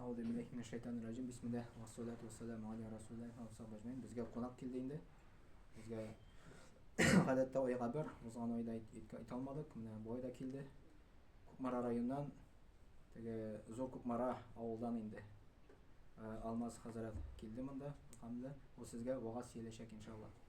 Ауды миләх мин шайтан рәҗим. Бисмиллаһ ва салату ва салам аля расулиллаһ ва сахбажмин. Безгә кунак килде инде. Безгә гадәттә айга бер, узган айда әйтә алмадык. Менә бу айда килде. Кукмара районыннан теге Зур Кукмара авылдан инде. Алмаз хәзрәт килде монда. Хәмдә, ул сезгә вагаз сөйләшәк иншаллаһ.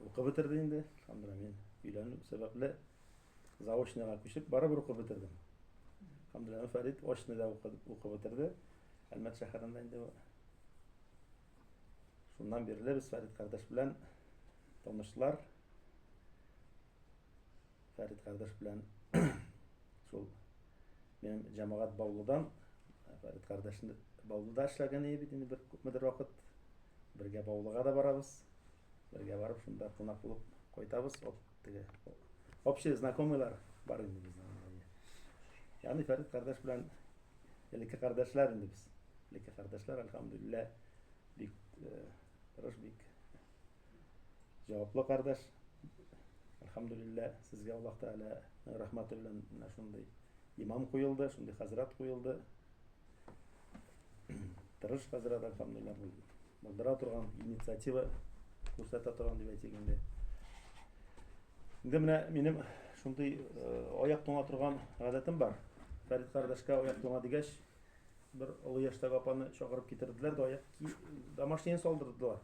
Укып бетерде инде, Сандра, мин өйләнү сәбәпле заочныйга күчеп, барыбер укып бетердем. Хамдуллин Фәрит очныйда укып бетерде. Әлмәт шәһәрендә инде шуннан бирле без Фәрит кардәш белән танышлар. Фәрит кардәш белән шул минем җәмәгать Баулыдан Фәрит кардәшне Баулыда эшләгән иде бит инде бер күпмедер вакыт. Бергә Баулыга да барабыз. Бергә барып, шунда кунак булып кайтабыз. Оп, теге. Общие знакомыйлар бар инде безнең. Ягъни Фәрит кардәш белән элекке кардәшләр инде без. Элекке кардәшләр, альхамдулилла, бик э, тырыш, бик җаваплы кардәш. Альхамдулилла, сезгә Аллаһ Тәгалә рәхмәте белән менә шундый имам куелды, шундый хәзрәт куелды. Тырыш хәзер адам фамилия бул. Булдыра торган инициатива күрсәтә торган дип әйтик инде. Инде менә минем шундый аяк туңа торган гадәтем бар. Фәрит кардәшкә аяк туңа дигәч, бер олы яшьтәге апаны чакырып китерделәр дә аяк ки домашние салдырдылар.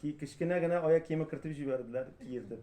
Ки кечкенә генә аяк киеме кертеп җибәрделәр, киердем.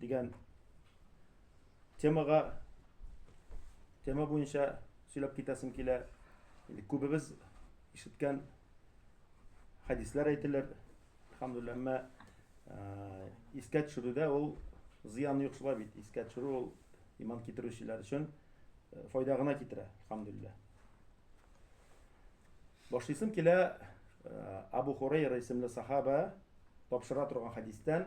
дигән темага тема буенча сөйләп китәсем килә. Инде күбебез ишеткән хәдисләр әйтелер. Хамдулла, әмма э, искә төшерүдә ул зыян юк шулай бит. Искә төшерү ул иман китерүчеләр өчен э, файда гына китерә, хамдулла. Башлыйсым килә э, Абу Хурайра исемле сахаба тапшыра торган хәдистән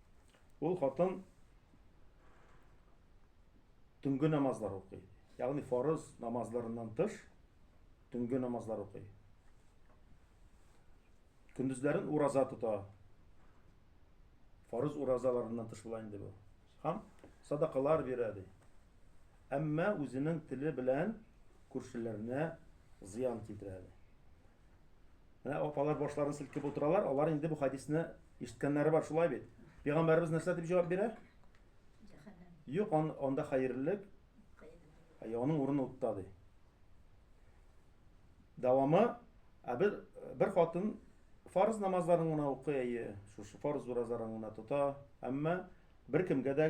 Ул хатын төнге намазлар укый. Ягъни фарыз намазларыннан тыш төнге намазлар укый. Көндезләрен ураза тота. Фарыз уразаларыннан тыш була инде бу. Һәм садакалар бирә ди. Әмма үзенең теле белән күршеләренә зыян китерә әле. Менә апалар башларын селкеп утыралар, алар инде бу хадисне ишеткәннәре бар, шулай бит. Пәйгамбәрбез нәрсә дип җавап бирә? Юк, он, анда хәерлелек. Әй, аның урыны утта ди. Дәвамы, ә бер, бер хатын фарыз намазларын гына укый, әйе, шушы фарыз уразарын гына тота, әмма бер кемгә дә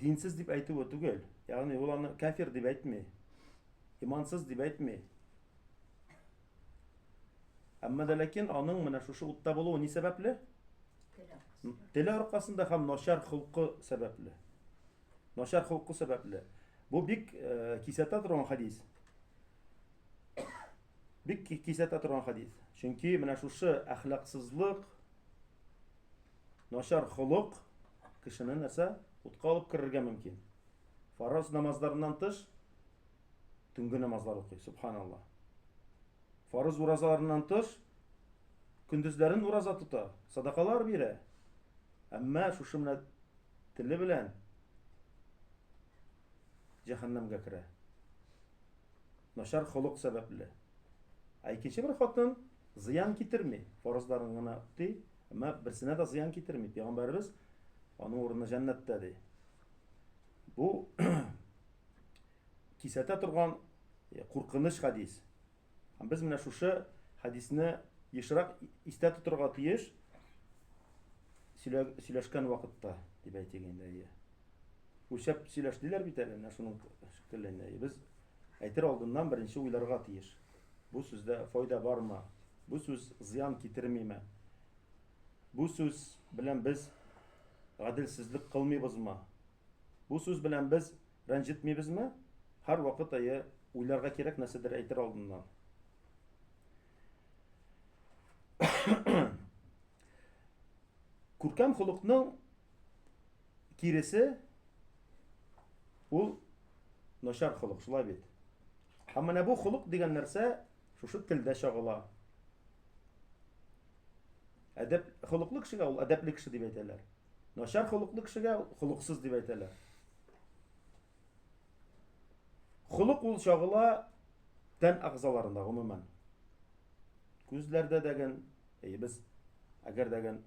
Динсез дип әйтүе түгел. Ягъни ул аны кафир дип әйтми. Имансыз дип әйтми. Әмма дә ләкин аның менә шушы утта булуы ни сәбәпле? Теле аркасында һәм начар холкы сәбәпле. Начар холкы сәбәпле. Бу бик э, кисәтә торган хадис. Бик кисәтә торган хадис. Чөнки менә шушы әхлаксызлык, начар холык кешене нәрсә? Утка алып керергә мөмкин. Фараз намазларыннан тыш төнге намазлар укый, субханалла. Фарыз уразаларыннан тыш көндезләрен ураза тота, садакалар бирә. Әмма шушы менә теле белән җәһәннәмгә керә. Начар холык сәбәпле. Ә икенче бер хатын зыян китерми, фарызларын гына укый, Әмма берсенә дә зыян китерми. Пәйгамбәрбез аның урыны җәннәттә ди. Бу кисәтә торган э, куркыныч хадис. Һәм без менә шушы хадисне ешрак истә тотырга тиеш сөйләшкән вакытта, дип әйтик инде. Үлчәп сөйләш диләр бит әле, менә шуның шикелле. Без әйтер алдыннан беренче уйларга тиеш. Бу сүздә файда бармы? Бу сүз зыян китермиме? Бу сүз белән без гаделсезлек кылмыйбызмы? Бу сүз белән без рәнҗетмибезме? Һәр вакыт әйе уйларга кирәк нәрсәдер әйтер алдыннан. Күркәм холыкның киресе ул начар холык, шулай бит. Һәм менә бу холык дигән нәрсә шушы телдә чагыла. Әдәп холыклы кешегә ул әдәпле кеше дип әйтәләр. Начар холыклы кешегә холыксыз дип әйтәләр. Холык ул чагыла тән агзаларында гомумән. Күзләрдә дәген, әйе без әгәр дәген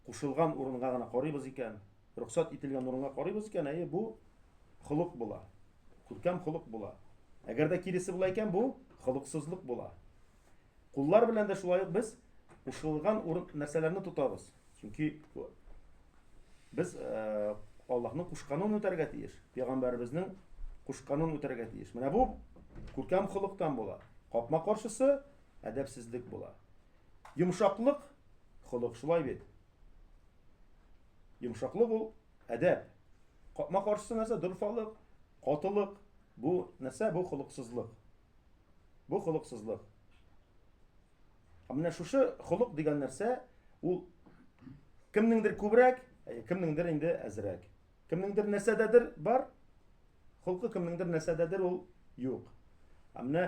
кушылган урынга гына карыйбыз икән, рөхсәт ителгән урынга карыйбыз икән, әйе, бу холык була. Күркәм холык була. Әгәр дә киресе була икән, бу холыксызлык була. Куллар белән дә шулай ук без кушылган урын нәрсәләрне тотабыз. Чөнки без э, Аллаһның кушканын үтәргә тиеш. Пәйгамбәребезнең кушканын үтәргә тиеш. Менә бу күркәм холыктан була. Капма каршысы әдәпсезлек була. Йомшаклык холык шулай бит. Йомшаклык ул әдәп. Капма каршысы нәрсә? Дорфалык, катылык. Бу нәрсә? Бу холыксызлык. Бу холыксызлык. Ә менә шушы холык дигән нәрсә ул кемнеңдер күбрәк, ә кемнеңдер инде әзрәк. Кемнеңдер нәрсәдәдер бар, холкы кемнеңдер нәрсәдәдер ул юк. Ә менә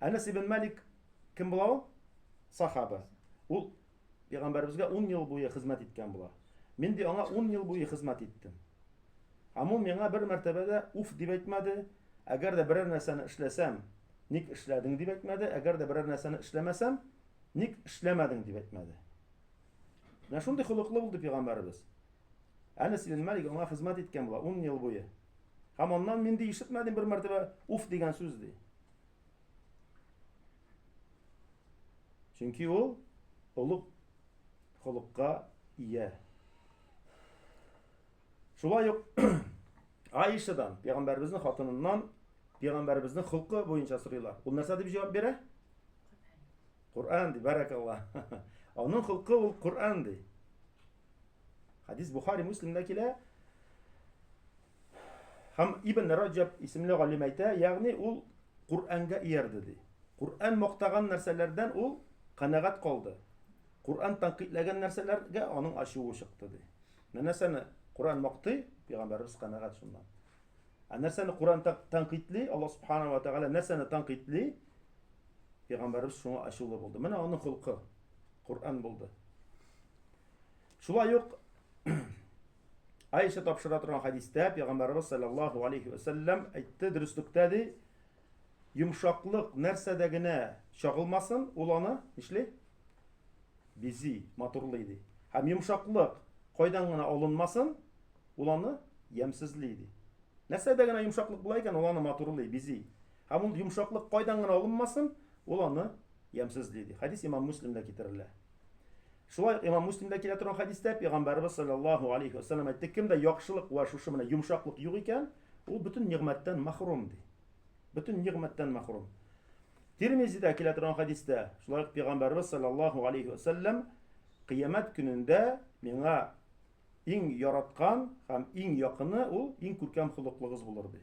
Әнәс ибн Малик кем була ул? Сахаба. Ул пәйгамбәребезгә 10 ел буе хезмәт иткән була. Мин ди аңа 10 ел буе хезмәт иттем. Һәм ул миңа бер мәртәбәдә уф дип әйтмәде, әгәр дә берәр нәрсәне эшләсәм, ник эшләдең дип әйтмәде, әгәр дә берәр нәрсәне эшләмәсәм, ник эшләмәдең дип әйтмәде. Менә шундый холыклы булды пәйгамбәребез. Әнәс ибн Малик аңа хезмәт иткән була 10 ел буе. Һәм аннан мин ди ишетмәдем бер мәртәбә уф дигән сүз ди. Чөнки ул олуг холыкка ия. Шулай ук Аишадан, пәйгамбәребезнең хатыныннан пәйгамбәребезнең холкы буенча сорыйлар. Ул нәрсә дип җавап бирә? Коръән ди, бәрәкәлла. Аның холкы ул Коръән ди. Хадис Бухари Муслимда килә. Һәм Ибн Раҗаб исемле галим әйтә, ягъни ул Коръәнгә иярде ди. Коръән мактаган нәрсәләрдән ул канәгать калды. Коръән тәнкыйтьләгән нәрсәләргә аның ачуы чыкты ди. Нәрсәне Коръән мактый, пәйгамбәрбез канәгать шуннан. Ә нәрсәне Коръән тәнкыйтьли, Аллаһ субхана ва тагала нәрсәне тәнкыйтьли? Пәйгамбәрбез шуңа ачулы булды. Менә аның холкы Коръән булды. Шулай ук Айша тапшыра торган хадистә Пәйгамбәрбез саллаллаһу алейхи ва саллям әйтте, дөреслектә ди, йомшаклык нәрсәдә генә чагылмасын, ул аны нишли? Бизи, матурлый ди. Һәм йомшаклык кайдан гына алынмасын, ул аны ямсезли ди. Нәрсәдә генә йомшаклык була икән, ул аны матурлый, бизи. Һәм ул йомшаклык кайдан гына алынмасын, ул аны ямьсезли ди. Хәдис имам Муслимда китерелә. Шулай имам Муслимда килә торган хәдистә пәйгамбәрбез саллаллаһу алейхи ва саллям әйтте, кемдә яхшылык ва шушы менә йомшаклык юк икән, ул бөтен нигъмәттән мәхрум ди. Бөтен нигъмәттән мәхрум. Тирмизидә килә торган хәдистә, шулай ук пәйгамбәрбез саллаллаһу алейхи ва саллям кыямәт көнендә миңа иң яраткан һәм иң якыны ул иң күркәм холыклыгыз булыр ди.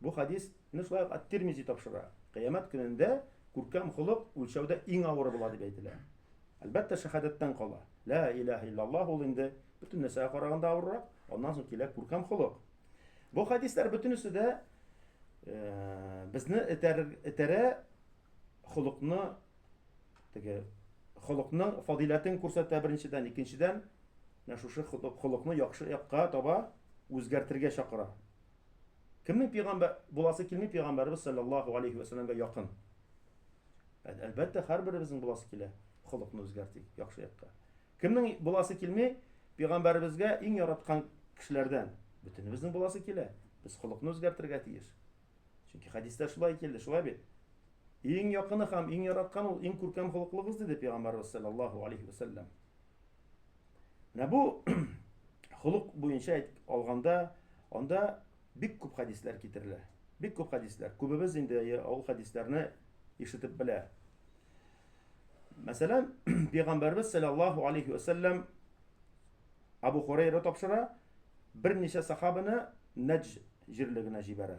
Бу хәдис не шулай ук Ат-Тирмизи тапшыра. Кыямәт көнендә күркәм холык үлчәүдә иң авыры була дип әйтелә. Әлбәттә, шәһадәттән кала. Ла илаһа иллаллаһ ул инде бөтен нәрсәгә караганда авыррак, аннан соң килә күркәм холык. Бу хәдисләр бөтенесе дә э, безне этәрә холыкны теге холыкны фадиләтен күрсәтә беренчедән, икенчедән менә шушы холыкны яхшы якка таба үзгәртергә чакыра. Кемнең пигамбәр буласы килми пигамбәрбез саллаллаһу алейхи ва саллямга якын. Әлбәттә, һәрберебезнең буласы килә, холыкны үзгәртик яхшы якка. Кемнең буласы килми пигамбәрбезгә иң яраткан кешеләрдән. Бөтенебезнең буласы килә. Без холыкны үзгәртергә тиеш. Чөнки хәдистә шулай килде, шулай бит. Иң якыны һәм иң яраткан ул иң күркәм холыклыгыз диде пигамбәрбез саллаллаһу алейхи ва саллям. Менә бу холык буенча әйт алганда, анда бик күп хәдисләр китерелә. Бик күп хәдисләр. Күбебез инде ул хәдисләрне ишетеп белә. Мәсәлән, пәйгамбәрбез саллаллаһу алейхи ва саллям Абу Хурайра тапшыра, берничә сахабаны Нәҗ җирлегенә җибәрә.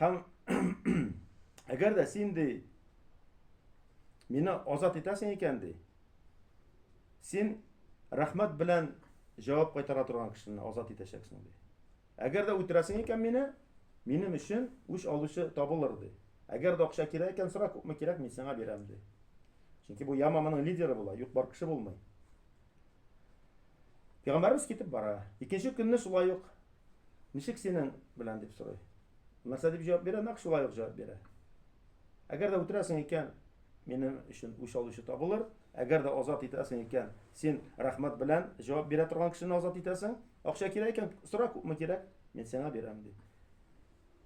Һәм әгәр дә син ди мине азат итәсең икән ди. Син рәхмәт белән җавап кайтара торган кешене азат итәчәксең ди. Әгәр дә үтерәсең икән мине, минем өчен үч алучы табылыр ди. Әгәр дә акча кирәк икән, сора күпме кирәк, мин сиңа бирәм ди. Чөнки бу яма моның лидеры була, юк бар кеше булмый. Пәйгамбәрбез китеп бара. Икенче көнне шулай ук Ничек синең белән дип сорый. Нәрсә дип җавап бирә, нәкъ шулай ук җавап бирә. Әгәр дә үтерәсең икән, минем өчен үч алучы табылыр. Әгәр дә азат итәсең икән, син рәхмәт белән җавап бирә торган кешене азат итәсең. Акча кирәк икән, сора күпме кирәк, мин сиңа бирәм ди.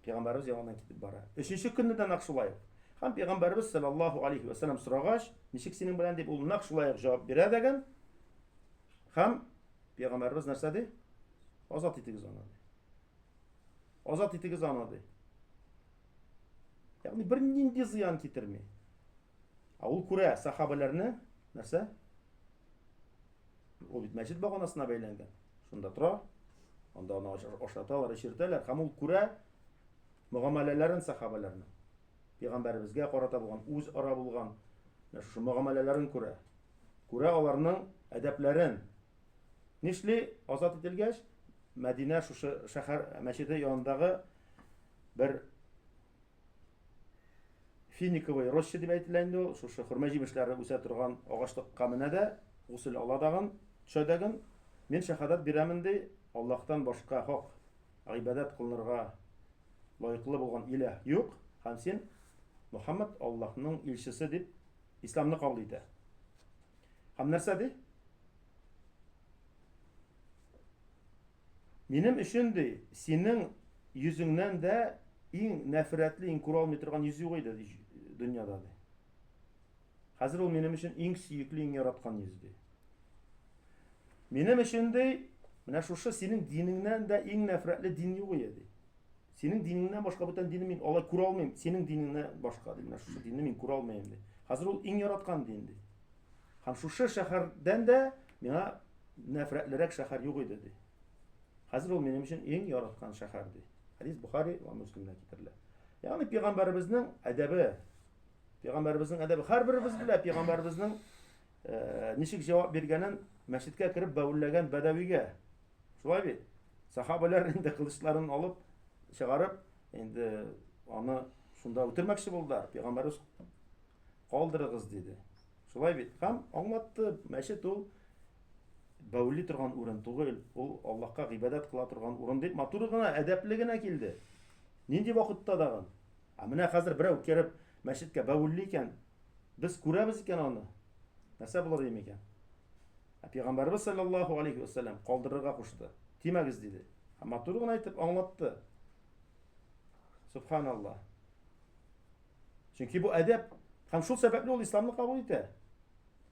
Пәйгамбәрбез яныннан китеп бара. Өченче көнне дә нәкъ шулай. Һәм пәйгамбәрбез саллаллаһу алейхи ва саллям сорагач, ничек синең белән дип ул нәкъ шулай ук җавап бирә дигән. Һәм Пәйгамбәрбез нәрсә ди? Азат итегез аны. Азат итегез аны ди. Ягъни бер нинди зыян китерми. А ул күрә сахабаларны нәрсә? Ул бит мәчет баганасына бәйләнгән. Шунда тора. Анда аны ашаталар, эчертәләр. Һәм ул күрә мөгамәләләрен сахабаларны. Пәйгамбәрбезгә карата булган үз ара булган шушы мөгамәләләрен күрә. күрә аларның әдәпләрен. Нишли, азат ителгәч, Мәдинә шушы шәһәр мәчеде янындагы бер финиковый роща дип әйтелә инде ул, шушы хөрмә җимешләре үсә торган агачлыкка менә дә, гусел ала дагын, төшәдәген, мин шәһадәт бирәмен ди, Аллаһтан башка хак гыйбадәт кылынырга лаеклы булган иләһ юк, һәм син Мөхәммәд Аллаһның илчесе дип Исламны кабул итә. Һәм нәрсә ди? Минем өчен ди, синең йөзеңнән дә иң нәфрәтле, иң күрә алмый торган йөз юк иде дөньяда ди. Хәзер ул минем өчен иң сөекле, иң яраткан йөз ди. Минем өчен ди, менә шушы синең динеңнән дә иң нәфрәтле дин юк иде ди. Синең динеңнән башка бүтән динне мин алай күрә алмыйм. Синең динеңнән башка ди, менә шушы динне мин күрә алмыйм ди. Хәзер ул иң яраткан дин ди. Һәм шушы шәһәрдән дә миңа нәфрәтлерәк шәһәр юк иде ди. Хәзер ул минем өчен иң яраткан шәһәр ди. Хәдис Бухари ва Муслимдә китерелә. Ягъни пәйгамбәребезнең әдәбе. Пәйгамбәребезнең әдәбе һәрберебез белә пәйгамбәребезнең Ничек җавап биргәнен мәчеткә кереп бәвелләгән бәдәвигә. Шулай бит? Сахабәләр инде кылычларын алып, чыгарып, инде аны шунда үтермәкче булдылар. Пәйгамбәрбез калдырыгыз диде. Шулай бит? Һәм аңлатты, мәчет ул бәүли торган урын түгел, ул Аллаһка гыйбадәт кыла торган урын дип матур гына, әдәпле генә килде. Нинди вакытта дагы? Ә менә хәзер берәү кереп, мәчеткә бәвелли икән, без күрәбез икән аны, нәрсә булыр иде микән? Ә пәйгамбәрбез саллаллаһу алейһи ва сәлләм калдырырга кушты. Тимәгез диде. Һәм матур гына итеп аңлатты. Субханаллаһ. Чөнки бу әдәп һәм шул сәбәпле ул исламны кабул итә.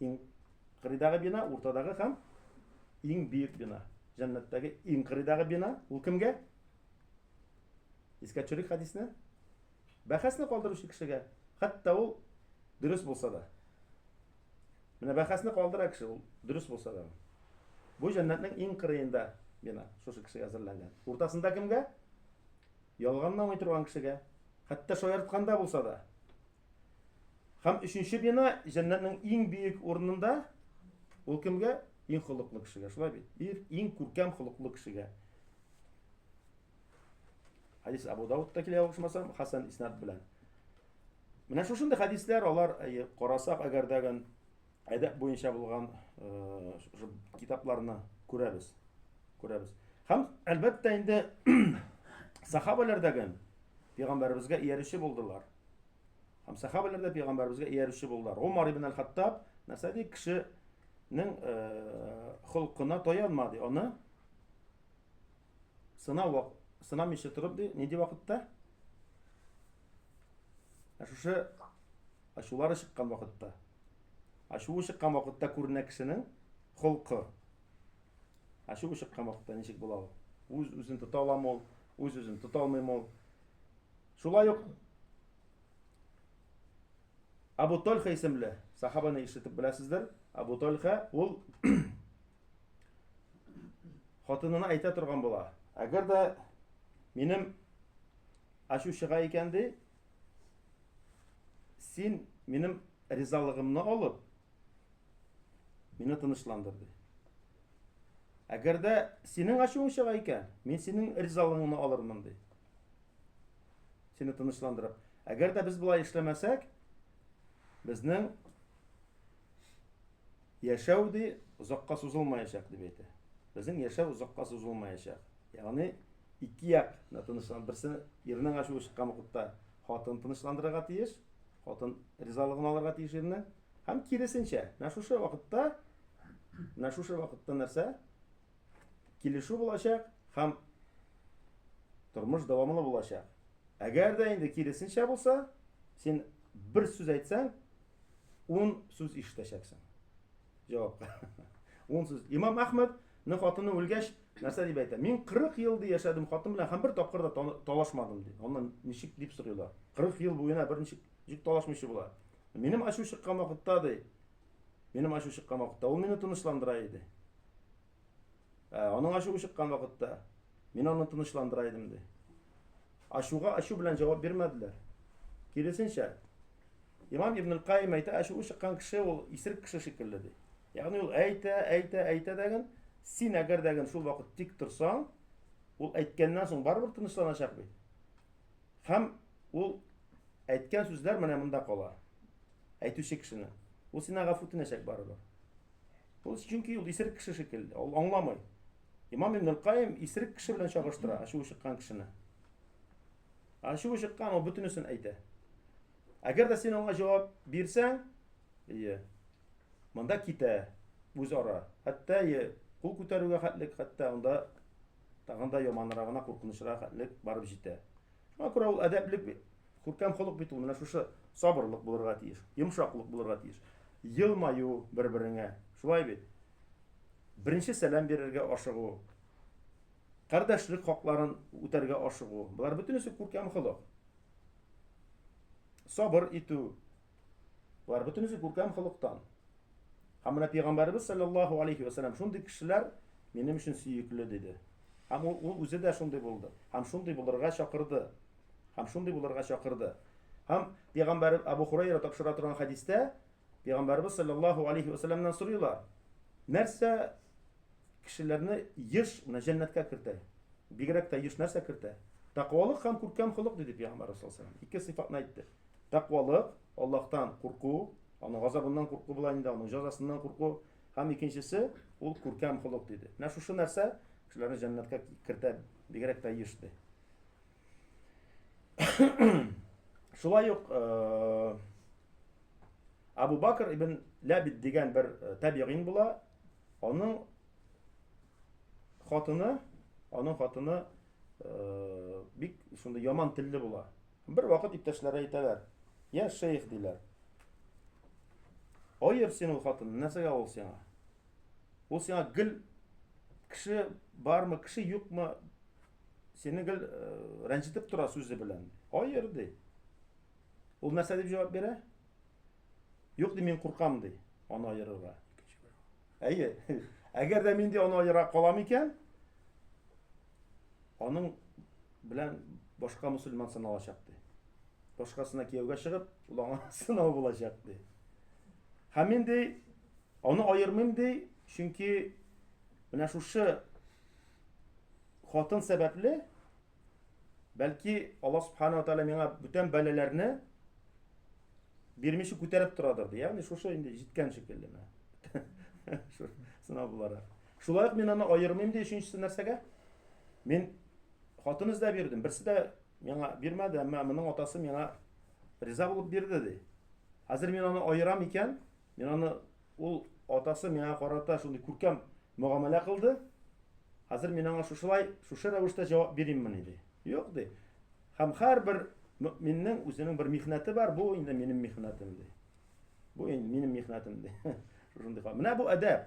Иң кырыйдагы бина, уртадагы һәм иң бөек бина. Җәннәттәге иң кырыйдагы бина ул кемгә? Искә төшерик хәдисне. Бәхәсне калдыручы кешегә, хәтта ул дөрес булса да. Менә бәхәсне калдыра кеше ул дөрес булса да. Бу җәннәтнең иң кырыенда бина шушы кешегә әзерләнгән. Уртасында кемгә? Ялганламый торган кешегә. Хәтта шаяртканда булса да. Һәм өченче бина җәннәтнең иң биек урынында ул кемгә? Иң холыклы кешегә, шулай бит? Ир иң күркәм холыклы кешегә. Хадис Абу Даудта килә ошмасам, Хасан иснат белән. Менә шушындый хадислар алар карасак, әгәр дә әдәп буенча булган шушы китапларны күрәбез. Күрәбез. Һәм әлбәттә инде сахабалар да гел пәйгамбәребезгә иярүче булдылар. Һәм сахабалар да пәйгамбәребезгә иярүче булдылар. Умар ибн аль-Хаттаб нәрсә ди кешенең холкына таянмады. Аны сынау сынамыйча торып ди, нинди вакытта? Ә шушы Ачулары чыккан вакытта. Ачуы чыккан вакытта күренә кешенең холкы. Ачуы чыккан вакытта ничек була ул? Үз үзен тота аламы ул? Үз үзен тота алмыймы ул? Шулай ук Абу Тольха исемле сахабаны ишетеп беләсездер. Абу Тольха ул хатынына әйтә торган була. Әгәр дә минем ачу чыга икән ди, Син минем ризалыгымны алып, мине тынычландыр, ди. Әгәр дә синең ачуың чыга икән, мин синең ризалыгыңны алырмын, ди. Сине тынычландырып. Әгәр дә без болай эшләмәсәк, безнең яшәү ди озакка сузылмаячак дип әйтә. Безнең яшәү озакка сузылмаячак. Ягъни Ике як да тынычлан. Берсе ирнең ачуы чыккан вакытта хатын тынычландырырга тиеш, хатын ризалыгын алырга тиеш ирне. Һәм киресенчә, менә шушы вакытта, менә шушы вакытта нәрсә? Килешү булачак һәм тормыш дәвамлы булачак. Әгәр дә инде киресенчә булса, син бер сүз әйтсәң, ун сүз ишетәчәксең. Җавап. Ун сүз. Имам Әхмәд Ны хатыны үлгәч, нәрсә дип әйтә? Мин 40 ел ди яшәдем хатын белән һәм бер тапкыр да талашмадым ди. Аннан ничек дип сорыйлар? 40 ел буена бер ничек җик талашмыйчы була. Минем ачу чыккан вакытта ди. Минем ачу чыккан вакытта ул мине тынычландыра иде. Ә, аның ачуы чыккан вакытта мин аны тынычландыра идем, ди. Ачуга ачу белән җавап бирмәделәр. Киресенчә, Имам Ибн Каим әйтә, ачуы чыккан кеше ул исерек кеше шикелле, ди. Ягъни ул әйтә, әйтә, әйтә дәген, син әгәр дәген шул вакыт тик торсаң, ул әйткәннән соң барыбер тынычланачак бит. Һәм ул әйткән сүзләр менә монда кала. Әйтүче кешене. Ул сиңа гафу үтенәчәк барыбер. Ул чөнки ул исерек кеше шикелле, ул аңламый. Имам Ибн Каим исерек кеше белән чагыштыра, ачуы чыккан кешене. Ачуы чыккан ул бөтенесен әйтә. Әгәр дә син аңа җавап бирсәң, ие. Монда китә үз ара. Хәтта ие кул күтәрүгә хәтлек, хәтта анда тагында яманрагына куркынычрак хәтлек барып җитә. Шуңа күрә ул әдәпле Күркәм холык бит ул, менә шушы сабырлык булырга тиеш, йомшаклык булырга тиеш. Елмаю бер-береңә, шулай бит. Беренче сәлам бирергә ашыгу, кардәшлек хакларын үтәргә ашыгу, болар бөтенесе күркәм холык. Сабыр итү, Болар бөтенесе күркәм холыктан. Һәм менә пәйгамбәребез саллаллаһу алейхи ва саллям шундый кешеләр минем өчен сөекле диде. Һәм ул, ул үзе дә шундый булды. Һәм шундый булырга чакырды. Һәм шундый булырга чакырды. Һәм пәйгамбәр Абу Хурайра тапшыра торган хәдистә пәйгамбәребез саллаллаһу алейхи ва саллямнан сорыйлар. Нәрсә кешеләрне еш менә җәннәткә кертә? Бигрәк тә еш нәрсә кертә? Тәкъвалык һәм күркәм холык диде пәйгамбәр саллаллаһу алейхи ва саллям. Ике сыйфатны әйтте. Тәкъвалык, Аллаһтан курку, аның газабыннан курку була инде, аның җәзасыннан курку. Һәм икенчесе, ул күркәм холык диде. Менә шушы нәрсә кешеләрне җәннәткә кертә бигрәк тә еш ди. Шулай ук э, Абу Бакр ибн Ләбид дигән бер э, табигин була. Аның хатыны, аның хатыны э, бик шундый яман телле була. Бервакыт иптәшләре әйтәләр, Я, шейх, диләр, аер син ул хатынны, нәрсәгә ул сиңа? Ул сиңа гел кеше бармы, кеше юкмы, сине гел э, рәнҗетеп тора сүзе белән. Аер, ди. Ул нәрсә дип җавап бирә? Юк, ди, мин куркам, ди, аны аерырга. Әйе, әгәр дә мин ди аны аера калам икән, Аның белән башка мусульман сыналачак, ди. Башкасына кияүгә чыгып, ул аңа сынау булачак, ди. Һәм мин, ди, аны аермыйм, ди, чөнки менә шушы хатын сәбәпле, бәлки Аллаһ субхана ва тәгалә миңа бүтән бәлаләрне бирмичә күтәреп торадыр, ди. Ягъни шушы инде җиткән шикелле. Сынау буларак. Шулай ук мин аны аермыйм ди өченчесе нәрсәгә? Мин хатын эзләп йөрдем, берсе дә миңа бирмәде, әмма моның атасы миңа риза булып бирде ди. Хәзер мин аны аерам икән, мин аны ул атасы миңа карата шундый күркәм мөгамәлә кылды. Хәзер мин аңа шушылай, шушы рәвештә җавап бирәммени ди. Юк ди. Һәм һәрбер мөэминнең үзенең бер михнәте бар, бу инде минем михнәтем ди. Бу инде минем михнәтем ди. Шушындый. Менә бу әдәп.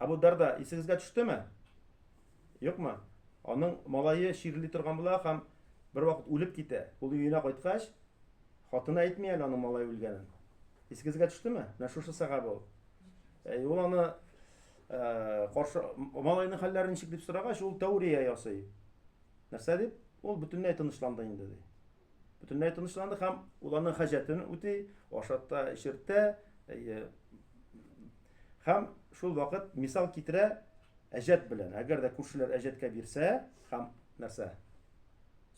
Абу Дарда, исегезгә төштеме? Юкмы? Аның малае чирли торган була һәм бер вакыт үлеп китә. Ул өенә кайткач, хатыны әйтми әле аның малае үлгәнен. Исегезгә төштеме? Менә шушы сәхабә ул. Әй, ул аны э, каршы малайның хәлләре ничек дип сорагач, ул тәүрия ясый. Нәрсә дип? Ул бөтенләй тынычланды инде ди. Бөтенләй тынычланды һәм ул аның хаҗәтен үти, ашатта, эчертә, Хәм шул вакыт мисал китерә әҗәт белән. Әгәр дә күршеләр әҗәткә бирсә, хәм нәрсә?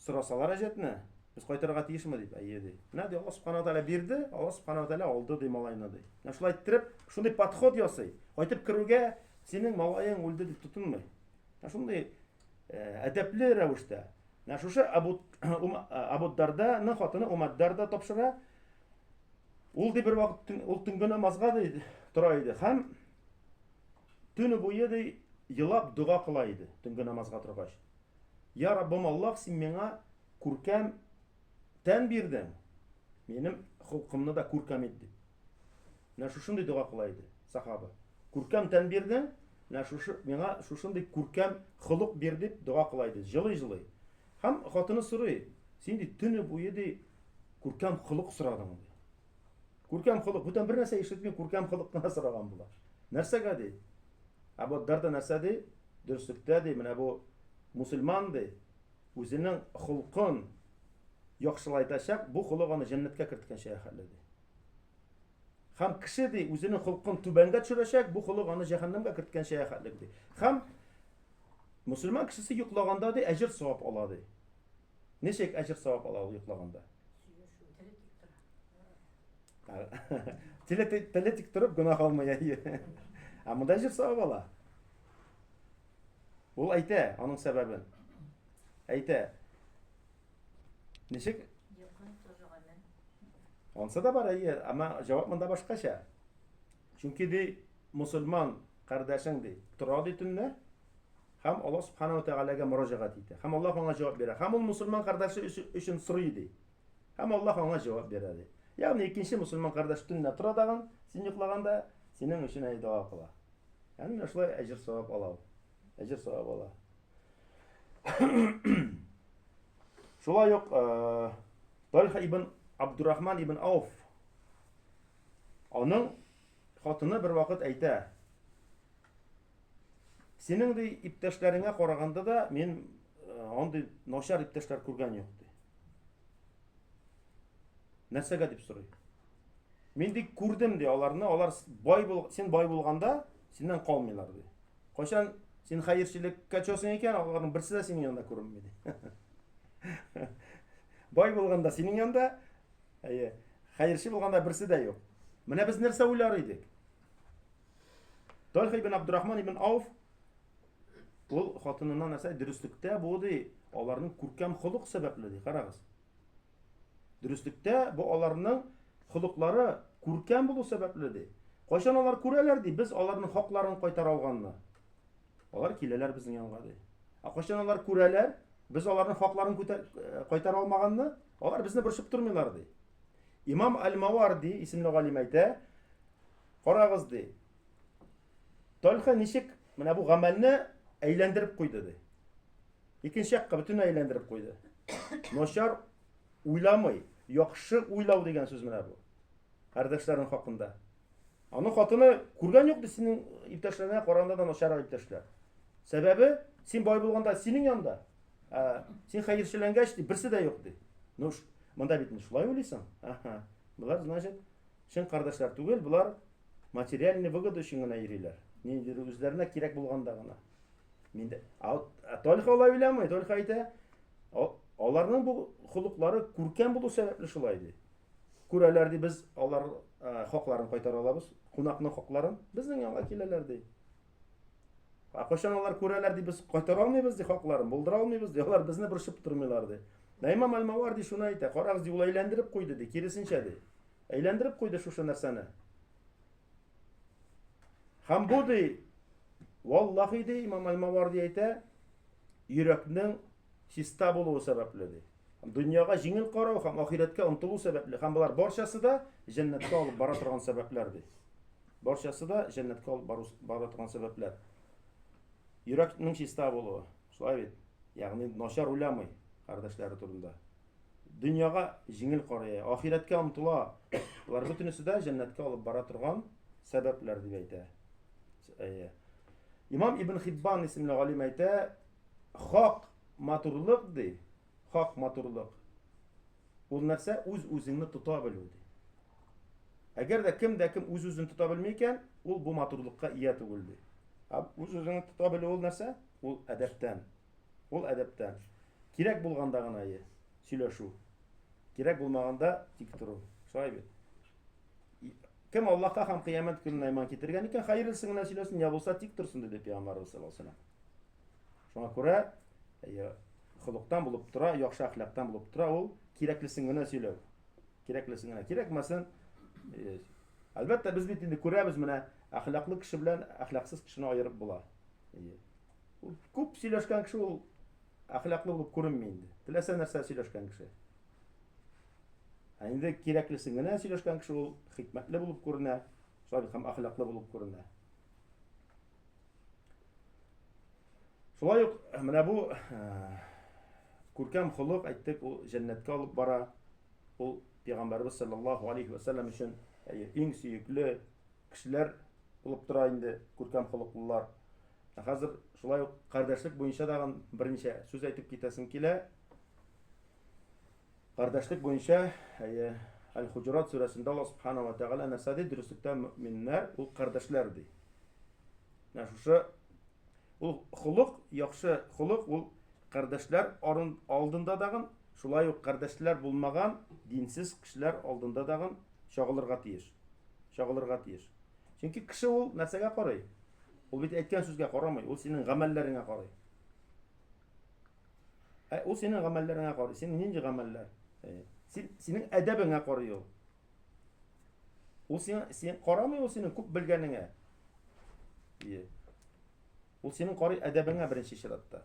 Сорасалар әҗәтне, без кайтырга тиешме дип, әйе ди. Менә ди Аллаһ субхана тәгалә бирде, Аллаһ субхана тәгалә алды ди малайны ди. Менә шулай иттереп, шундый подход ясый. Кайтып керүгә синең малаең үлде дип тотынмый. Менә шундый э, әдәпле рәвештә. Менә шушы Абу Абу Дарданың хатыны Умар Дарда тапшыра. Ул ди бер вакыт ул төнге намазга ди тора иде һәм төне буе ди елап дога кыла иде төнге намазга торгач. Я Раббым Аллаһ, син миңа күркәм тән бирдең. Минем холкымны да күркәм ит дип. Менә шушындый дога кыла иде сахаба. Күркәм тән бирдең, менә шушы миңа шушындый күркәм холык бир дип дога кыла иде. Җылый-җылый. Һәм хатыны сорый, Син, ди, төне буе, ди, күркәм холык сорадың, ди. Күркәм холык, бүтән бер нәрсә ишетми, күркәм холык кына сораган була. Нәрсәгә, ди? Ә бу дәрдә нәрсә, ди? Дөреслектә, ди, менә бу мусульман, ди, үзенең холкын яхшылайтачак, бу холык аны җәннәткә керткәнчә хәлле, ди. Хәм кеше, ди, үзенең холкын түбәнгә төшерәчәк, бу холык аны җәһәннәмгә керткәнчә хәлле, ди. Хәм Мөселман кешесе йоклаганда ди әҗер савап ала ди. Ничек әҗер савап ала ул йоклаганда? Теле тик торып гөнаһ алмый әйе. Ә монда әҗер савап ала. Ул әйтә аның сәбәбен. Әйтә. Ничек? Онсы да бар әйе, әмма җавап монда башкача. Чөнки, ди, мөселман кардәшең, ди, тора, ди, төнлә һәм Аллаһ Субхана ва Тәгаләгә мөрәҗәгать итә. Һәм Аллаһ аңа җавап бирә. Һәм ул мөселман кардәше өчен сорый, ди. Һәм Аллаһ аңа җавап бирә, ди. Ягъни икенче мөселман кардәш төнлә тора дагын, син йоклаганда, синең өчен әй дога кыла. Ягъни менә шулай әҗер савап ала ул. Әҗер савап ала. Шулай ук Тальха ибн Абдурахман ибн Ауф Аның хатыны бервакыт әйтә, Синең ди иптәшләреңә караганда да мин э, андый начар иптәшләр күргән юк ди. Нәрсәгә дип сорый? Мин ди күрдем ди аларны, алар бай бул, син бай булганда синнән калмыйлар ди. Кайчан син хәерчелеккә төшәсең икән, аларның берсе дә синең янында күренми ди. Бай булганда синең янында, Әйе. Хәерче булганда берсе дә юк. Менә без нәрсә уйлар идек? Тольха ибн Абдурахман ибн Ауф ул хатынына нәрсә дөреслектә бу ди, аларның күркәм холык сәбәпле ди, карагыз. Дөреслектә бу аларның холыклары күркәм булу сәбәпле ди. Кайчан алар күрәләр ди, без аларның хакларын кайтара алганны. Алар киләләр безнең янга ди. Ә кайчан алар күрәләр, без аларның хакларын э, кайтара алмаганны, Алар безне борчып тормыйлар, ди. Имам Аль-Маварди исемле галим әйтә, карагыз, ди. Тальха ничек менә бу гамәлне әйләндереп куйды, ди. Икенче якка бөтенләй әйләндереп куйды. Начар уйламый, яхшы уйлау дигән сүз менә бу. Кардәшләрең хакында. Аның хатыны күргән юк ди синең иптәшләренә караганда да начаррак иптәшләр. Сәбәбе, син бай булганда синең янда, ә син хәерчеләнгәч ди берсе дә юк ди. Ну, монда бит шулай уйлыйсың. Аха. Болар значит чын кардәшләр түгел, болар материальный выгода өчен генә йөриләр. Ниндидер үзләренә кирәк булганда гына. Миндә. А только алай уйламый, только әйтә. Аларның бу холыклары күркәм булу сәбәпле шулай ди. Күрәләр ди, без алар хакларын кайтара алабыз, кунакның хакларын безнең янга киләләр ди. Ә кайчан алар күрәләр ди, без кайтара алмыйбыз ди хакларын, булдыра алмыйбыз ди, алар безне борчып тормыйлар ди. Ә имам Алмавар ди шуны әйтә, карагыз ди, ул әйләндереп куйды ди, киресенчә ди. Әйләндереп куйды шушы нәрсәне. Һәм бу ди, валлахи ди, имам Алмавар ди әйтә, йөрәкнең чиста булуы сәбәпле, ди. Дөньяга җиңел карау һәм ахирәткә омтылу сәбәпле, һәм болар барчасы да җәннәткә алып бара торган сәбәпләр, ди. Барчасы да җәннәткә алып бару, бара торган сәбәпләр. Йөрәкнең чиста булуы, шулай бит. Ягъни начар уйламый кардәшләре турында. Дөньяга җиңел карый, ахирәткә омтыла. Болар бөтенесе дә җәннәткә алып бара торган сәбәпләр дип әйтә. Әйе. Имам Ибн Хиббан исемле галим әйтә, Хак матурлык ди, хак матурлык. Ул нәрсә? Үз-үзеңне тота белү ди. Әгәр дә кем дә кем үз-үзен тота белми икән, ул бу матурлыкка ия түгел ди. Ә үз-үзеңне тота белү ул нәрсә? Ул әдәптән. Ул әдәптән. Кирәк булганда гына ие сөйләшү. Кирәк булмаганда тик тору. Шулай бит. Кем Аллаһка һәм кыямәт көненә иман китергән икән, хәерлесен генә сөйләсен, я булса тик торсын, диде пәйгамбәребез саллаллаһу алейһи ва сәлләм. Шуңа күрә әйе, холыктан булып тора, яхшы әхлактан булып тора ул кирәклесен генә сөйләү. Кирәклесен генә, кирәкмәсен. Э, әлбәттә, без бит инде күрәбез менә, әхлаклы кеше белән әхлаксыз кешене аерып була. Әйе. Ул күп сөйләшкән кеше ул әхлаклы булып күренми инде. Теләсә нәрсә сөйләшкән кеше. Ә инде кирәклесен генә сөйләшкән кеше ул хикмәтле булып күренә, салих һәм әхлаклы булып күренә. Шулай ук э, менә бу э, күркәм холык әйттек, ул җәннәткә алып бара. Ул пәйгамбәрбез саллаллаһу алейхи ва саллям өчен иң сөекле кешеләр булып тора инде күркәм холыклылар. Ә хәзер шулай ук кардәшлек буенча дагын берничә сүз әйтеп китәсем килә. Кардәшлек буенча, әйе, Әл-Хуҗурат сүрәсендә Аллаһ Субхана ва Тәгалә нәрсә ди? Дөреслектә мөэминнәр ул кардәшләр ди. Менә шушы ул холык, яхшы холык ул кардәшләр алдында дагын, шулай ук кардәшләр булмаган динсез кешеләр алдында дагын чагылырга тиеш. Чагылырга тиеш. Чөнки кеше ул нәрсәгә карый? Ул бит әйткән сүзгә карамый, ул синең гамәлләреңә карый. Ә ул синең гамәлләреңә карый. Син нинди гамәлләр? Син синең әдәбеңә карый ул. Ул син син карамый ул синең күп белгәнеңә. Ие. Ул синең карый әдәбеңә беренче чиратта.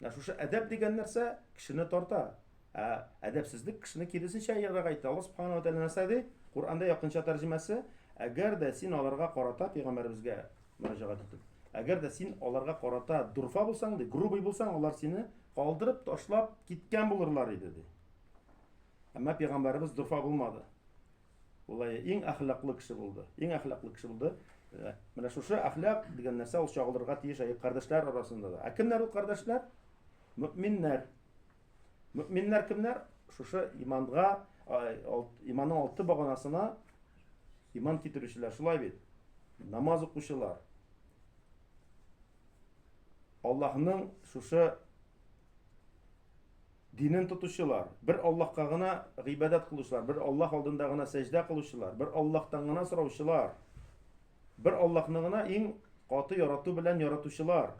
Ә шушы әдәп дигән нәрсә кешене тарта. Ә әдәпсезлек кешене киресенчә ярага итә. Аллаһ субханаһу ва тааля нәрсә ди? Куранда якынча тәрҗемәсе, әгәр дә син аларга карата пәйгамбәребезгә мөрәҗәгать итеп. Әгәр дә син аларга карата дурфа булсаң, ди, грубый булсаң, алар сине калдырып, ташлап киткән булырлар иде, ди. Әмма пәйгамбәребез дурфа булмады. Улай иң әхлаклы кеше булды. Иң әхлаклы кеше булды. Э, менә шушы әхлак дигән нәрсә ул чагылырга тиеш әйе кардәшләр арасында да. Ә кемнәр ул кардәшләр? Мөэминнәр. Мөминнәр кемнәр? Шушы иманга, иманның алты баганасына иман китерүчеләр. Шулай бит. Намаз укучылар. Аллаһның шушы динен тотучылар, бер Аллаһка гына гыйбадәт кылучылар, бер Аллаһ алдында гына сәҗдә кылучылар, бер Аллаһтан гына сораучылар, бер Аллаһны гына иң каты ярату белән яратучылар.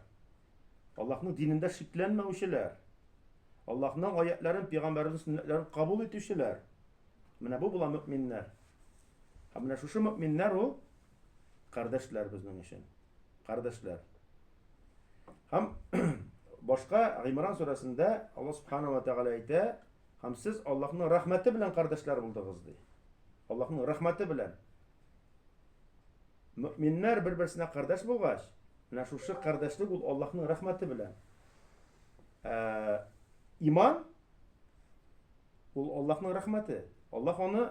Аллаһның динендә шикләнмәүчеләр, Аллаһның аятьләрен, пәйгамбәрнең сөннәтләрен кабул итүчеләр. Менә бу була мөэминнәр. Һәм менә шушы мөэминнәр ул кардәшләр безнең өчен. Кардәшләр. Һәм башка Гимран сүрәсендә Аллаһ субхана ва тәгалә әйтә, һәм сез Аллаһның рәхмәте белән кардәшләр булдыгыз ди. Аллаһның рәхмәте белән. Мөэминнәр бер-берсенә кардәш булгач, менә шушы кардәшлек ул Аллаһның рәхмәте белән. Ә, иман ул Аллаһның рәхмәте. Аллаһ аны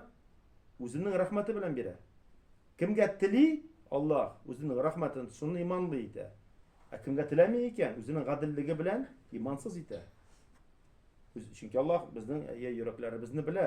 үзенең рәхмәте белән бирә. Кемгә тели Аллаһ үзенең рәхмәтен, шуны иманлы итә. Ә кемгә теләми икән, үзенең гаделлеге белән имансыз итә. Чөнки Аллаһ безнең йөрәкләребезне белә.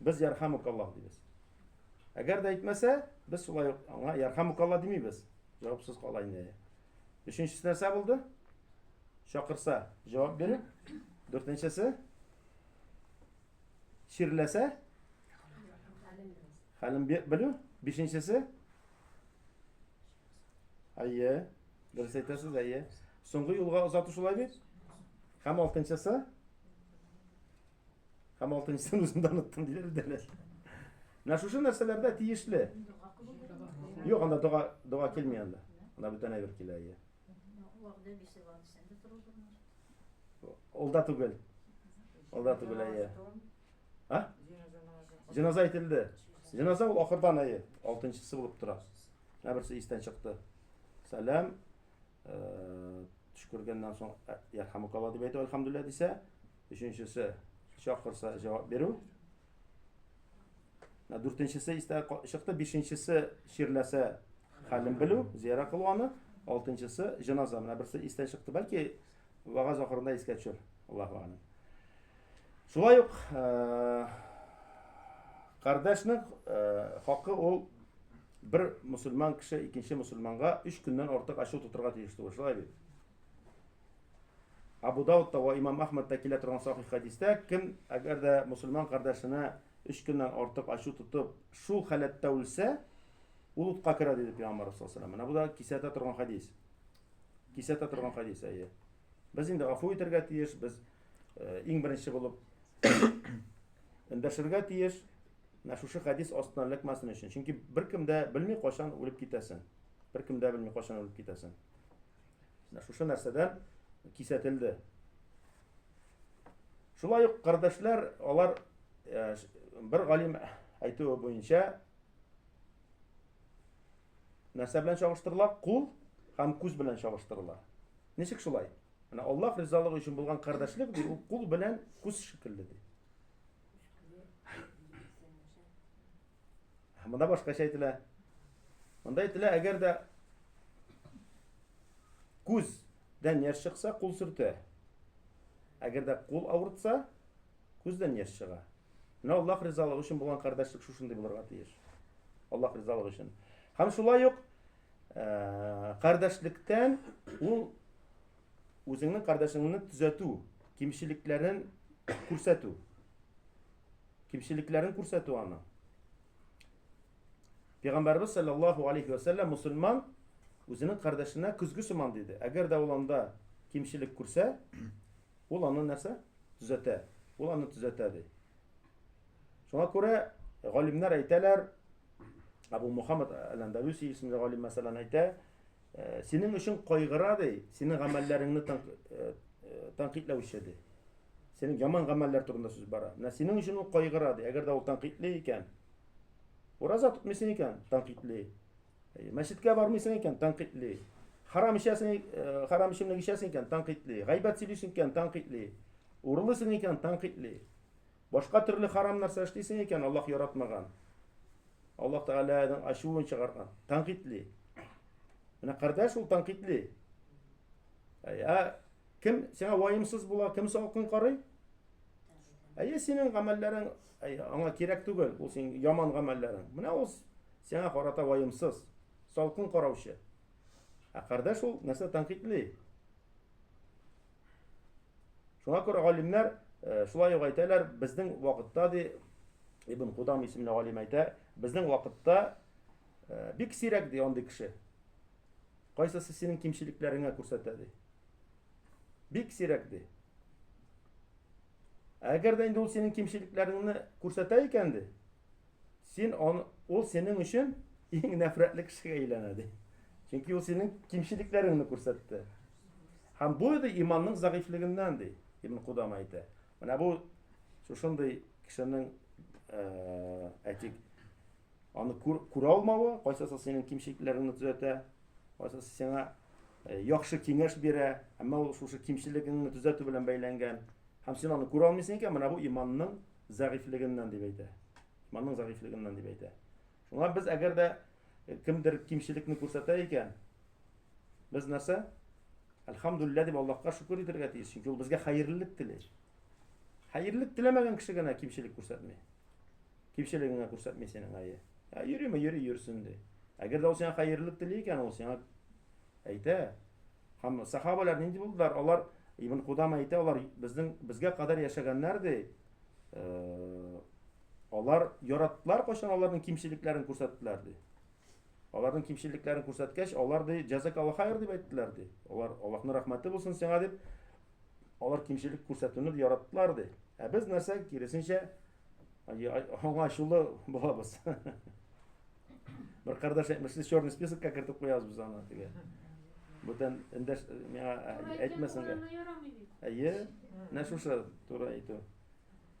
Без ярхамукаллах дибез. Әгәр дә әйтмәсә, без шулай ук аңа ярхамукаллах димибез. Җавапсыз кала инде. Өченчесе нәрсә булды? Чакырса, җавап бирү. Дүртенчесе чирләсә, хәлен белү. Бишенчесе Әйе. Дөрес әйтәсез, әйе. Соңгы юлга озату шулай бит. Һәм алтынчысы Һәм алтынчысын үзем дә оныттым, диде Рүдәләс. Менә шушы нәрсәләрдә тиешле. Юк, анда дога, дога килми анда. Анда бүтән әйбер килә, ия. Ул да түгел. Ул да түгел, ия. А? Җеназа әйтелде. Җеназа ул ахырдан, ия. Алтынчысы булып тора. Менә берсе истән чыкты. Сәлам. Э, төш күргәннән соң, ярхамукалла дип әйтә, альхамдулилла дисә, Өченчесе, чакырса җавап бирү. Дүртенчесе истә чыкты, бишенчесе чирләсә хәлен белү, зияра кылу аны. Алтынчысы җеназа. Менә берсе истә чыкты, бәлки вагаз ахырында искә төшер. Аллаһу алим. Шулай ук э, кардәшнең э, хакы ул бер мусульман кеше икенче мусульманга өч көннән артык ачу тотырга тиеш түгел. Шулай бит. Абу Даудта ва Имам Ахмадта килә торган сахих хәдистә, кем әгәр дә мусульман кардәшенә өч көннән артык ачу тотып, шул халәттә үлсә, ул утка керә диде Пәйгамбәр саллаллаху алейһи Менә бу да кисәтә торган хәдис. Кисәтә торган хәдис, әйе. Без инде гафу итәргә тиеш, без э, иң беренче булып эндәшергә тиеш. Менә шушы хәдис астына эләкмәсен өчен. Чөнки беркем дә белми кайчан үлеп китәсен. Беркем дә белми кайчан үлеп китәсен. Менә шушы нәрсәдән кисәтелде. Шулай ук кардәшләр, алар э, бер галим әйтүе буенча нәрсә белән чагыштырыла? Кул һәм күз белән чагыштырыла. Ничек шулай? Менә Аллаһ ризалыгы өчен булган кардәшлек ди, ул кул белән күз шикелле ди. Монда башкача әйтелә. Монда әйтелә, әгәр дә күздән яшь чыкса, кул сөртә. Әгәр дә кул авыртса, күздән яшь чыга. Менә Аллаһ ризалыгы өчен булган кардәшлек шушындый булырга тиеш. Аллаһ ризалыгы өчен. Һәм шулай ук э, кардәшлектән ул үзеңнең кардәшеңне төзәтү, кимчелекләрен күрсәтү. Кимчелекләрен күрсәтү аны. Пәйгамбәрбез саллаллаһу алейхи ва сәлләм мусульман үзенең кардәшенә көзге сыман диде. Әгәр дә ул анда кимчелек күрсә, ул аны нәрсә? Төзәтә. Ул аны төзәтә ди. Шуңа күрә галимнәр әйтәләр, Абу Мухаммад Аландависи исемле галим мәсәлән әйтә, Синең өчен кайгыра, ди, синең гамәлләреңне тәнкыйтьләүче, ди. Синең яман гамәлләр турында сүз бара. Менә синең өчен ул кайгыра, ди. Әгәр дә ул тәнкыйтьли икән, ураза тотмыйсың икән, тәнкыйтьли. Мәчеткә бармыйсың икән, тәнкыйтьли. Харам эчәсең, харам эчемлек эчәсең икән, тәнкыйтьли. Гайбәт сөйлисең икән, тәнкыйтьли. Урылысың икән, тәнкыйтьли. Башка төрле харам нәрсә эшлисең икән, Аллаһ яратмаган. Аллаһ Тәгаләнең ачуын чыгарган, тәнкыйтьли. Менә кардәш ул тәнкыйтьли. Ә кем сиңа ваемсыз була, кем салкын карый? Әйе, синең гамәлләрең аңа кирәк түгел, ул синең яман гамәлләрең. Менә ул сиңа карата ваемсыз, салкын караучы. Ә кардәш ул нәрсә тәнкыйтьли? Шуңа күрә галимнәр э, шулай ук әйтәләр, безнең вакытта ди Ибн Кудам исемле галим әйтә, безнең вакытта э, бик сирәк ди андый кеше. Кайсысы синең кимчелекләреңә күрсәтә ди. Бик сирәк ди. Әгәр дә инде ул синең кимчелекләреңне күрсәтә икән ди, син он, ул синең өчен иң нәфрәтле кешегә әйләнә ди. Чөнки ул синең кимчелекләреңне күрсәтте. Һәм бу иде иманның зәгыйфьлегеннән, ди Ибн Кудама әйтә. Менә бу шушындый кешенең э, әйтик, аны күр, күрә алмавы, кайсысы синең кимчелекләреңне төзәтә, кайсысы сиңа э, яхшы киңәш бирә, әмма ул шушы кимчелегеңне төзәтү белән бәйләнгән. Һәм син аны күрә алмыйсың икән, менә бу иманның зәгыйфьлегеннән дип әйтә. Иманның зәгыйфьлегеннән дип әйтә. Шуңа без әгәр дә кемдер кимчелекне күрсәтә икән, без нәрсә? Әлхамдулилла дип Аллаһка шөкер итәргә тиеш, чөнки ул безгә хәерлелек тели. Хәерлелек теләмәгән кеше генә кимчелек күрсәтми. Кимчелегеңә күрсәтми синең әйе. Ә йөриме, йөри йөрсен ди. Әгәр дә ул сиңа хәерлелек тели икән, ул сиңа әйтә. Һәм сахабалар нинди булдылар? Алар Ибн Кудама әйтә, алар безнең безгә кадәр яшәгәннәр ди. Э, Алар яраттылар кайчан аларның кимчелекләрен күрсәттеләр ди. Аларның кимчелекләрен күрсәткәч, алар ди җәзакалла хайр дип әйттеләр ди. Алар Аллаһның рәхмәте булсын сиңа дип алар кимчелек күрсәтүне яраттылар ди. Ә без нәрсә киресенчә аңа ачулы булабыз. Бер кардәш әйтмешли черный списокка кертеп куябыз без аны диге. Бүтән эндәш миңа әйтмәсәң. Әйе, нәшуша туры әйтү.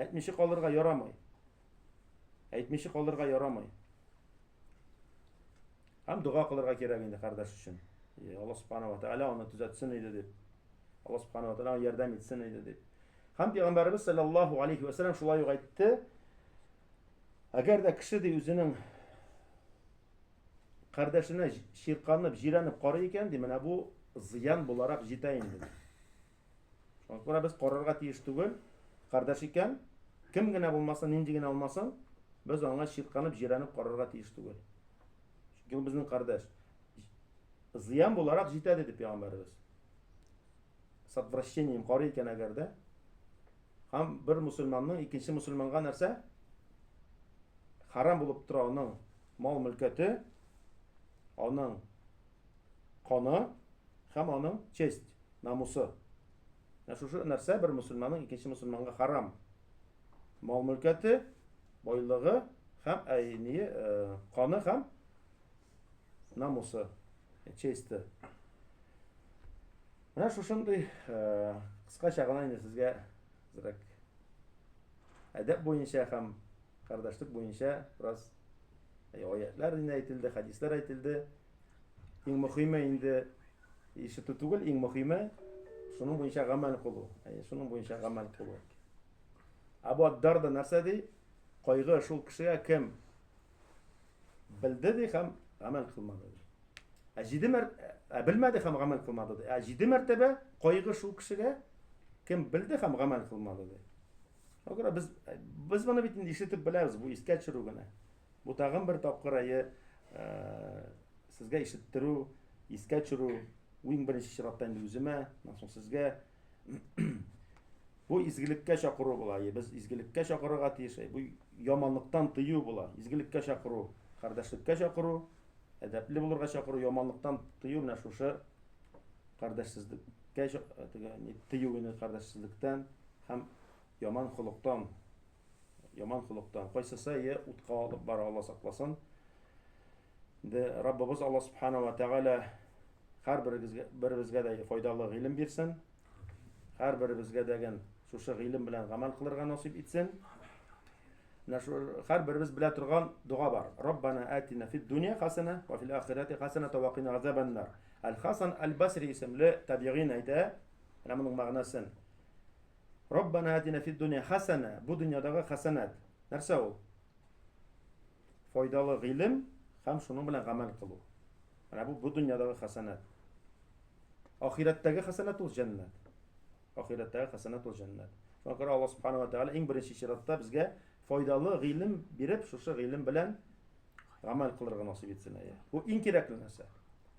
Әйтмичә калырга ярамый. Әйтмичә калырга ярамый. Һәм дога кылырга кирәк инде кардәш өчен. И Алла субхана ва тааля аны төзәтсен иде дип. Алла субхана ва тааля аны ярдәм итсен иде дип. Һәм пәйгамбәрбез саллаллаһу алейхи ва саллям шулай ук әйтте. Әгәр дә кеше ди үзенең кардәшенә ширканып, җирәнеп карый икән, ди, менә бу зыян буларак җитә инде. Шуңа күрә без карарга тиеш түгел, кардәш икән, кем генә булмасын, нинди генә алмасын, без аңа чирканып, җирәнеп карарга тиеш түгел. Чөнки ул безнең кардәш. Зыян буларак җитә диде пәйгамбәребез. Сатвращением карый икән әгәр дә, һәм бер мусульманның икенче мусульманга нәрсә? Харам булып тора аның мал-мөлкәте, аның Каны һәм аның честь, намусы. Менә шушы нәрсә бер мөселманның икенче мөселманга хәрам. Мал-мөлкәте, байлыгы һәм әй, ние, каны һәм намусы, чести. Менә шушындый кыскача гына инде сезгә зрәк әдәп буенча һәм кардәшлек буенча бераз аятлар инде әйтелде, хәдисләр әйтелде. Иң мөхиме инде ишетү түгел, иң мөхиме шуның буенча гамәл кылу. Әйе, шуның буенча гамәл кылу. Абу Аддар да нәрсә ди? Кайгы шул кешегә кем белде ди һәм гамәл кылмады. Ә җиде мәр... ә белмәде һәм гамәл кылмады. Ә җиде мәртәбә кайгы шул кешегә кем белде һәм гамәл кылмады. Шуңа күрә без без моны бит инде ишетеп беләбез, бу искә төшерү генә. Бу тагын бер тапкыр әйе сезгә ишеттерү, искә төшерү, иң беренче чиратта инде үземә, аннан соң сезгә бу изгелеккә чакыру була. Әйе, без изгелеккә чакырырга тиеш. Әйе, бу яманлыктан тыю була. Изгелеккә чакыру, кардәшлеккә чакыру, әдәпле булырга чакыру, яманлыктан тыю менә шушы кардәшсезлеккә тыю ине кардәшсезлектән һәм яман холыктан яман холыктан кайсысы е утка алып бара алла сакласын инде раббыбыз алла субхана ва тәгалә һәрберебезгә дә файдалы гыйлем бирсен һәрберебезгә дәген шушы гыйлем белән гамәл кылырга насыйп итсен менә шу һәрберебез белә торган дога бар раббана атина фид дөнья хасана ва фил ахирати хасана тавакина азабаннар әл хасан әл басри исемле табигин әйтә менә моның мәгънәсен Раббана атина фид дөнья хасана. Бу дөньядагы хасанат. Нәрсә ул? Файдалы гыйлем һәм шуның белән гамәл кылу. Менә бу бу дөньядагы хасанат. Ахирәттәге хасанат ул җәннәт. Ахирәттәге хасанат ул җәннәт. Шуңа күрә Аллаһ субханала тәгалә иң беренче чиратта безгә файдалы гыйлем биреп, шушы гыйлем белән гамәл кылырга насыйп итсен. Бу иң кирәкле нәрсә.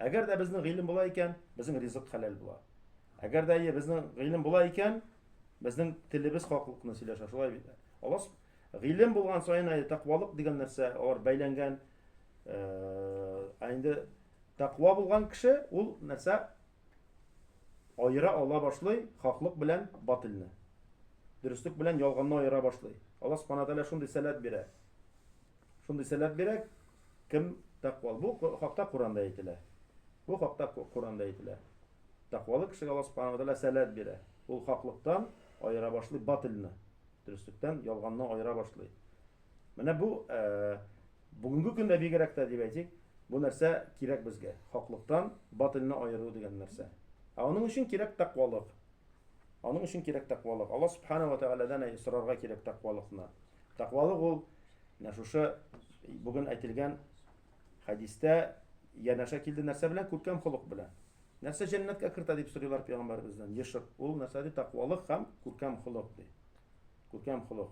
Әгәр дә безнең гыйлем була икән, безнең ризык хәләл була. Әгәр дә әйе, безнең гыйлем була икән, безнең телебез хаклыкны сөйләшә, шулай бит. Аллаһ гыйлем булган саен әйе, тәкъвалык дигән нәрсә алар бәйләнгән. Ә инде тәкъва булган кеше ул нәрсә аера ала башлый хаклык белән батылны. Дөреслек белән ялганны аера башлый. Аллаһ Субхану ва Тааля шундый сәләт бирә. Шундый сәләт бирә, кем тәкъвал. Бу хакта Коранда әйтелә. Бу хакта Коранда әйтелә. Тәкъвалы кешегә Аллаһ Субхана Тәгалә сәләт бирә. Ул хаклыктан аера башлый батылны, дөреслектән ялганны аера башлый. Менә бу э, бүгенге көндә бигрәк тә дип әйтик, бу нәрсә кирәк безгә. Хаклыктан батылны аеру дигән нәрсә. Ә аның өчен кирәк тәкъвалык. Аның өчен кирәк тәкъвалык. Алла Субхана ва Тәгаләдән сорарга кирәк тәкъвалыкны. Тәкъвалык ул менә шушы бүген әйтелгән хәдистә янәшә килде нәрсә белән? Күркәм холык белән. Нәрсә җәннәткә кертә дип сорыйлар пәйгамбәребездән? Ешык. Ул нәрсә ди? Тәкъвалык һәм күркәм холык ди. Күркәм холык.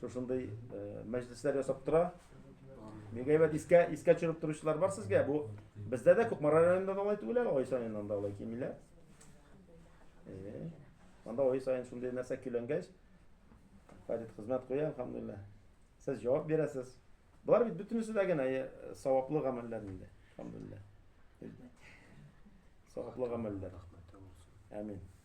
Шушындый мәҗлесләр ясап тора. Бик әйбәт искә искә төшереп торучылар бар сезгә. Бу бездә дә Кукмара районында да алай түгел әле, ай саен анда алай кимиләр. Э, анда ай саен шундый нәрсә көйләнгәч, Фарид хезмәт куя, алхамдулилла. Сез җавап бирәсез. Болар бит бөтенесе дә генә э, саваплы гамәлләр инде. Алхамдулилла. Саваплы гамәлләр. Амин.